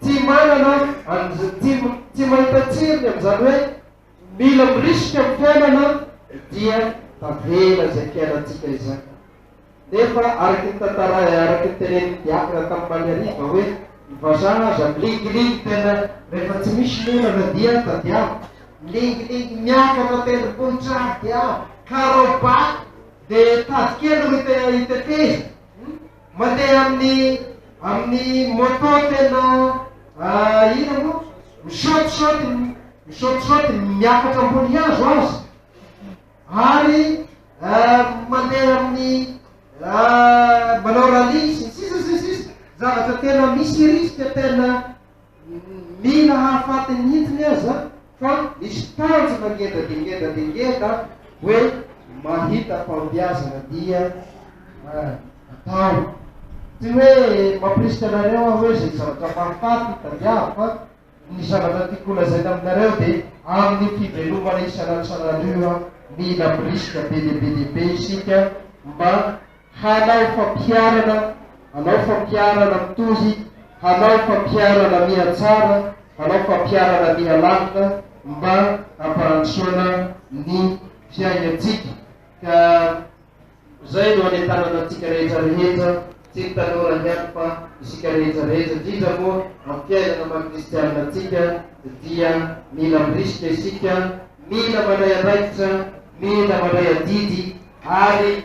Tsy manana an'izay, tsy mahita tsirony amin'izany hoe mila mirisika amin'ny fiainana dia tavela izay fiainantsika izay. Nefa araka ny tantarae, araka ny tenenin'ny diakona tamin'ny maliariva hoe ny vazaha aza milingilingy tena rehefa tsy misy ny olana dia tadiavo, milingilingy miakatra tendrombohitra ady avo, karaobato dia tady kely ro hitetezany. Mandeha amin'ny amin'ny moto tena ah, ina moa? Misaotisaoty, misaotisaoty, miakatra ambony hazo aza. Ary ah, mandeha amin'ny ah, manao rallye sy ny sisa sy ny sisa. Zavatra tena misy risque tena Mila hahafaty ny hintiny aza fa misy tanjona ngeda dia ngeda dia ngeda hoe mahita fahombiazana dia atao. Tsy hoe mampirisika anareo aho hoe izay zavatra mahafaty tadiavo fa ny zavatra tiako holazaina aminareo dia amin'ny fivelomana isan'andro isan'andro io mila mirisika be dia be dia be isika mba Hanao fampiharana, hanao fampiharana mitohy, hanao fampiharana mihatsara, hanao fampiharana mihalalina mba hampandrosoana ny fiainantsika. Ka izay no anentanana antsika rehetra rehetra, tsy ny tanora ihany fa isika rehetra rehetra, indrindra moa amin'ny fiainana maha kristiana antsika dia mila mirisika isika, mila mandray andraikitra, mila mandray adidy ary.